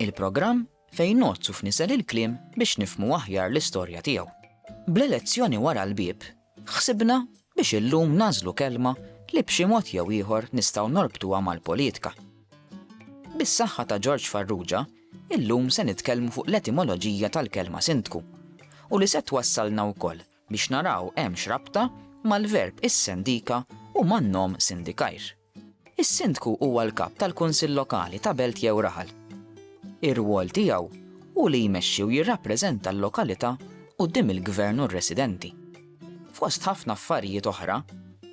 Il-programm fejn ngħodd u f'niżel il-kliem biex nifhmu aħjar l-istorja tiegħu. Bl-elezzjoni wara l-bieb, ħsibna biex illum nagħżlu kelma li b'xi mod jew ieħor nistgħu norbtuha mal-politka. Bis-saħħa ta' Ġorġ Farrugia, illum se nitkellmu fuq l-etimoloġija tal-kelma sindku u li se twassalna wkoll biex naraw hemmx rabta mal-verb issendika u man-nom sindikajr. Is-Sindku huwa l-Kap tal-Kunsill Lokali ta' belt jew raħal. Ir-rwol tiegħu hu li jmexxi u jirrappreżenta l-lokalità quddiem il-Gvern u r-residenti. Fost ħafna affarijiet oħra,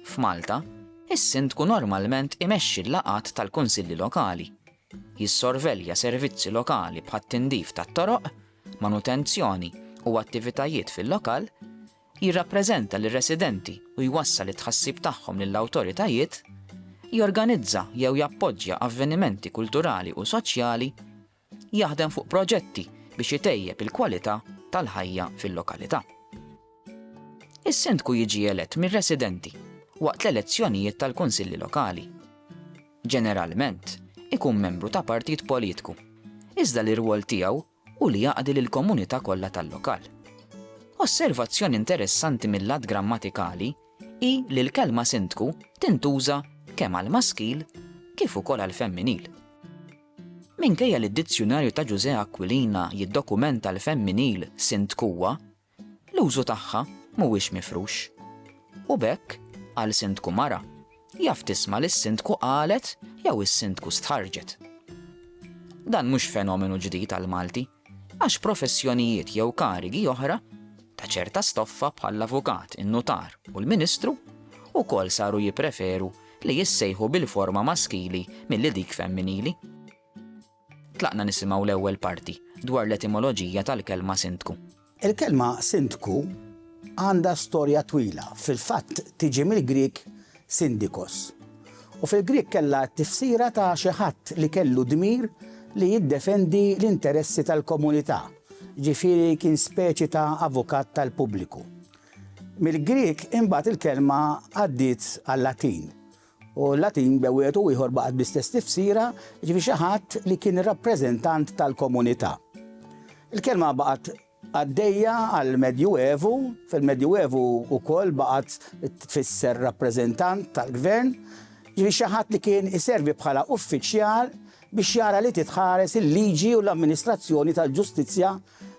f'Malta, is-Sindku normalment imexxi l-laqgħat tal-Kunsilli Lokali, jissorvelja servizzi lokali bħat-tindif tat-toroq, manutenzjoni u attivitajiet fil-lokal, jirrappreżenta lir-residenti u jwassal it-tħassib tagħhom lill-awtoritajiet, jorganizza jew jappoġġja avvenimenti kulturali u soċjali, jaħdem fuq proġetti biex itejjeb il-kwalità tal-ħajja fil-lokalità. Is-Sindku jiġi elett mir-residenti waqt l-elezzjonijiet tal-Kunsilli Lokali. Ġeneralment, ikun membru ta' partit politku, iżda l-irwol tiegħu u li jaqdi lill-komunità kollha tal-lokal. Osservazzjoni interessanti mil-lat grammatikali hi li l-kelma sindku tintuża kemm għall-maskil kif ukoll għall-femminil. Minkejja li d-Dizzjunarju ta' Ġużè Aquilina jiddokumenta l-femminil sindkuwa, l-użu tagħha mhuwiex mifrux. U b'hekk, għal Sindku mara, jaf tisma' li s-Sindku qalet jew is-Sindku stħarrġet. Dan mhux fenomenu ġdid għall-Malti, għax professjonijiet jew karigi oħra ta' ċerta stoffa bħall-avukat, in-nutar u l-ministru wkoll saru jippreferu li jissejħu bil-forma maskili milli dik femminili. Tlaqna nisimgħu l-ewwel parti dwar l-etimoloġija tal-kelma sindku. Il-kelma sindku għandha storja twila, fil-fatt tiġi mill-Grieg syndikos, u fil-Grieg kellha t-tifsira ta' xi ħadd li kellu dmir li jiddefendi l-interessi tal-komunità, ġifieri kien speċi ta' avukat tal-pubbliku. Mill-Grieg imbagħad il-kelma għaddiet għal-Latin u l-Latin b'e wieħed u ieħor baqgħet bl-istess tifsira, jiġifieri xi ħadd li kien ir-rappreżentant tal-komunità. Il-kelma baqgħet għaddejja għall-Medjuevu, fil-Medjuevu wkoll baqgħet tfisser rappreżentant tal-gvern, jiġifieri xi ħadd li kien iservi bħala uffiċjal biex jara li titħares il-liġi u l-amministrazzjoni tal-ġustizzja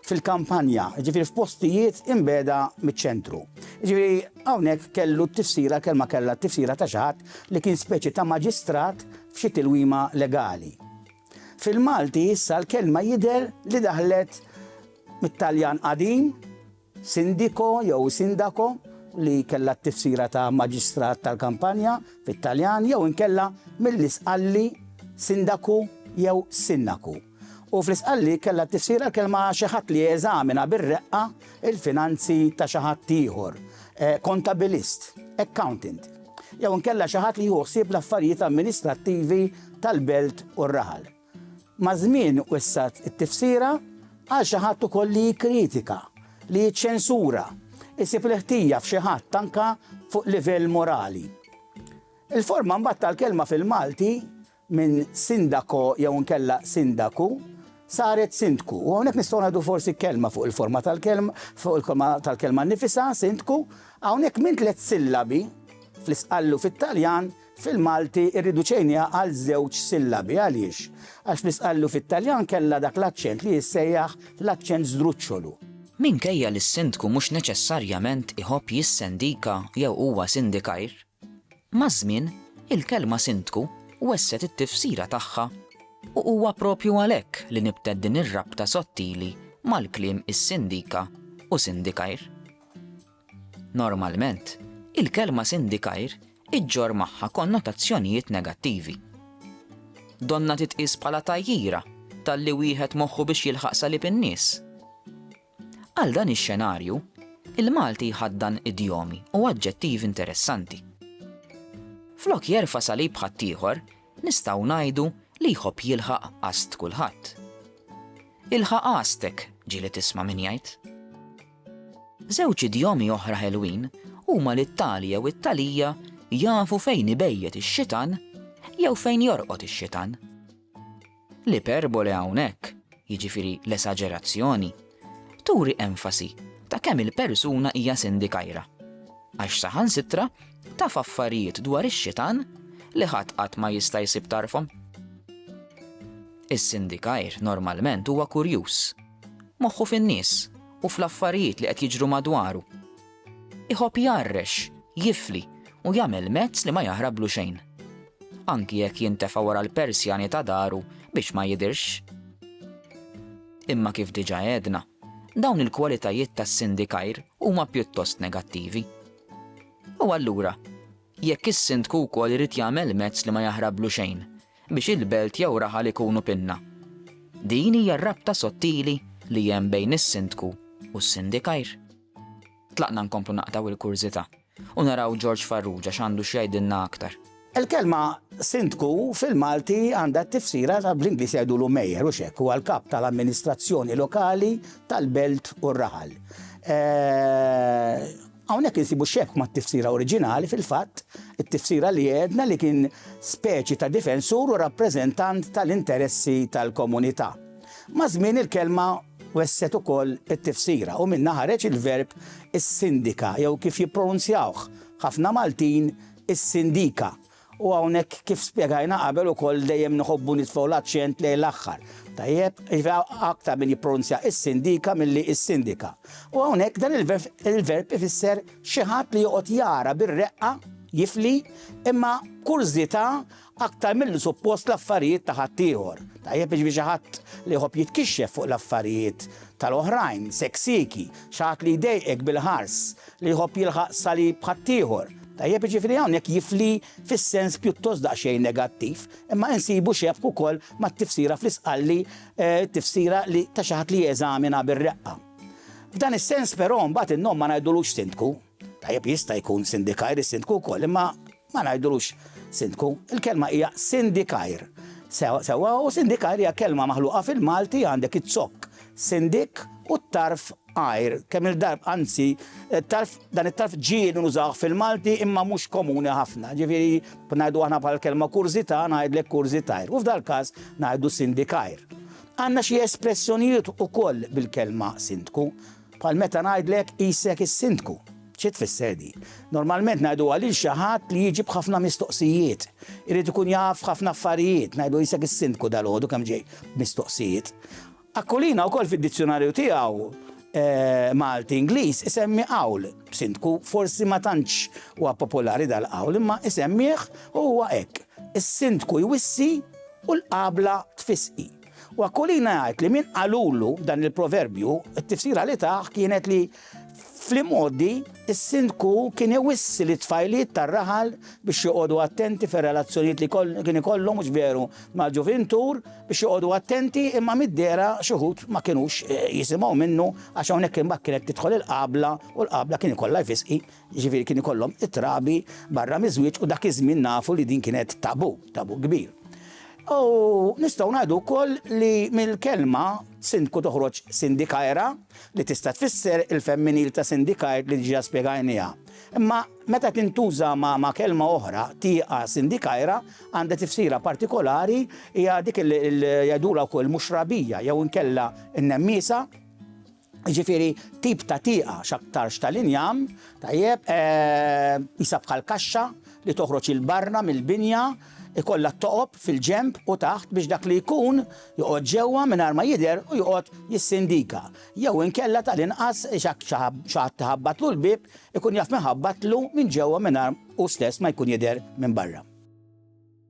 fil-kampanja, jiġifieri f'postijiet imbiegħda miċ-ċentru. Jiġifieri hawnhekk kellu t-tifsira, l-kelma kellha t-tifsira ta' xi ħadd li kien speċi ta' maġistrat f'xi tilwima legali. Fil-Malti issa l-kelma jidher li daħlet mit-Taljan qadim, Sindiko jew sindaco, li kellha t-tifsira ta' maġistrat tal-kampanja fit-Taljan, jew inkella mill-Isqalli sindaku jew sinnaku. U fl-Isqalli kellha t-tifsira l-kelma xi ħadd li jeżamina bir-reqqa l-finanzi ta' xi ħadd ieħor, kontabilist, accountant, jew inkella xi ħadd li jieħu ħsieb l-affarijiet amministrattivi tal-belt u r-raħal. Maż-żmien wessgħet it-tifsira għal xi ħadd ukoll li jikkritika, li jiċċensura, isib il-ħtija f'xi ħadd anke fuq livell morali. Il-forma mbagħad tal-kelma fil-Malti minn sindako jew inkella sindaku saret sindku. U hawnhekk nistgħu ngħidu forsi kelma fuq il-forma tal-kelma, fuq il-kelma tal-kelma nifisa, sindku, hawnhekk minn tliet sillabi fl-isqallu fit-Taljan Fil-Malti irriduċejniha għal żewġ sillabi. Għaliex? Għax fl-isqallu fit-Taljan kellha dak l-aċċent li jissejjaħ l-aċċent żdruċċolu. Minkejja li s-sindku mhux neċessarjament iħobb jissendika jew huwa sindikajr, maż-żmien il-kelma sindku wesset it-tifsira tagħha u huwa proprju għalhekk li nibtet din ir-rabta sottili mal-kliem issindika u sindikajr. Normalment, il-kelma sindikair iġġorr magħha konnotazzjonijiet negattivi. Donnha titqies bħala tgħajjira talli wieħed moħħu biex jilħaq salib in-nies. Għal dan ix-xenarju, il-Malti jħaddan idjomi u aġġettivi interessanti. Flok jerfa' salib ħaddieħor, nistgħu ngħidu li jħobb jilħaq qast kulħadd. Ilħaq qastek, ġieli tisma' min jgħid. Żewġ idjomi oħra ħelwin huma li t-tali jew it-talija jafu fejn ibejjet ix-xitan jew fejn jorqod ix-xitan. L-iperbole hawnhekk, jiġifieri l-esaġerazzjoni, turi enfasi ta' kemm il-persuna hija sindikajra, għax saħansitra taf affarijiet dwar ix-xitan li ħadd qatt ma jista' jsib tarfhom. Is-sindikajr normalment huwa kurjuż Moħħu fin-nies u fl-affarijiet li qed jiġru madwaru. Iħobb jgħarrex, jifli u jagħmel mezz li ma jaħrablu xejn. Anki jekk jintefa' wara l-persjani ta' daru biex ma jidhirx. Imma kif diġà għedna, dawn il-kwalitajiet tas-sindikajr huma pjuttost negattivi. U allura, jekk is-sindku wkoll irid jagħmel mezz li ma jaħrablu xejn, biex il-belt jew raħal ikunu pinna. Din hija r-rabta sottili li hemm bejn is-Sindku u s-Sindikajr. Tlaqna nkomplu naqtgħu il-kurżità u naraw Ġorġ Farrugia x'għandu x'jgħidilna aktar. Il-kelma Sindku fil-Malti għandha t-tifsira ta' bl-Ingliż jgħidulu Mayor, hux hekk, huwa l-kap tal-amministrazzjoni lokali tal-belt u r-raħal. Hawnhekk insibu xebh mat-tifsira oriġinali, fil-fatt, it-tifsira li għedna li kien speċi ta' difensur u rappreżentant tal-interessi tal-komunità. Maż-żmien il-kelma wesset ukoll it-tifsira u minnha ħareġ il-verb issindika jew kif jippronunzjawh ħafna Maltin, issindika, U hawnhekk kif spjegajna qabel ukoll dejjem nħobbu nitfgħu l-aċċent lejn l-aħħar. Tajjeb? Jiġifieri aktar min jippronunzja is-sindika milli is-sindika. U hawnhekk dan il-verb ifisser xi ħadd li joqgħod jara bir-reqqa, jifli, imma b'kurżità aktar milli suppost l-affarijiet ta' ħaddieħor. Tajjeb jiġifieri xi ħadd li jħobb jitkixxef fuq l-affarijiet tal-oħrajn, seksiki, xi ħadd li jdejqek bil-ħars, li jħobb jilħaq salib ħaddieħor. Tajjeb, jiġifieri hawnhekk jifli fis-sens pjuttost daqsxejn negattiv, imma insibu xebh ukoll mat-tifsira fl-Isqalli, tifsira li ta' xi ħadd li jeżamina bir-reqqa. F'dan is-sens però mbagħad in-nom ma ngħidulux sindku. Tajjeb, jista' jkun sindikajr, is-sindku wkoll, imma ma ngħidulux sindku. Il-kelma hija sindikajr. Sewwa, u sindikajr hija kelma maħluqa fil-Malti, għandek iz-zokk, sindik, u t-tarf għajr kemm il-darb anzi it-tarf dan it-tarf ġie li nużawh fil-Malti imma mhux komuni ħafna. Ġifieri ngħidu aħna bħal kelma kurżità ngħidlek kurżitajr u f'dal-każ ngħidu sindikajr. Għandna xi espressjonijiet ukoll bil-kelma sindku bħal meta ngħidlek qisek is-sindku. Xi tfisser din? Normalment ngħiduha lil xi ħadd li jiġi b'ħafna mistoqsijiet. Irid ikun jaf ħafna affarijiet, ngħidu qisek is-sindku dalgħodu kemm ġej mistoqsijiet. Aquilina wkoll fid-dizzjunarju tiegħu Malti-Ingliż isemmi qawl, sindku, forsi ma tantx huwa popolari dal-qawl imma isemmih u huwa hekk, is-sindku jwissi u l-qabla tfissqi. U Aquilina jgħid li min qalulu dan il-proverbju, it-tifsira li tah kienet li Fl-imgħoddi, is-Sindku kien iwissi lit-tfajliet tar-raħal biex joqogħdu attenti fir-relazzjonijiet li kien ikollhom, mhux veru mal-ġuvintur, biex joqogħdu attenti imma mid-dehra xi wħud ma kinux jisimgħu minnu għax hawnhekk imbagħad kienet tidħol il-qabla u l-qabla kien ikollha jfiss hi Jiġifieri kien ikollhom it-trabi barra miż-żwieġ u dak iż-żmien nafu li din kienet tabu, tabu kbir. U nistgħu ngħidu wkoll li mill-kelma sindku toħroġ sindikaera li tista' tfisser il-femminil ta' syndicate li diġà spjegajniha. Imma meta tintuża ma' kelma oħra, tieqa sindikaera għandha tifsira partikolari hija dik li jgħidulha wkoll muxrabija jew inkella n-nemmiesa, jiġifieri tip ta' tieqa x'aktarx tal-injam, tajjeb, qisha bħal kaxxa li toħroġ 'il barra mill-binja, ikollha t-toqob fil-ġenb u taħt biex dak li jkun joqgħod ġewwa mingħajr ma jidher u joqgħod jissindika, jew inkella tal-inqas jekk xi ħadd iħabbatlu l-bieb ikun jaf min ħabbatlu minn ġewwa mingħajr hu stess ma jkun jidher minn barra.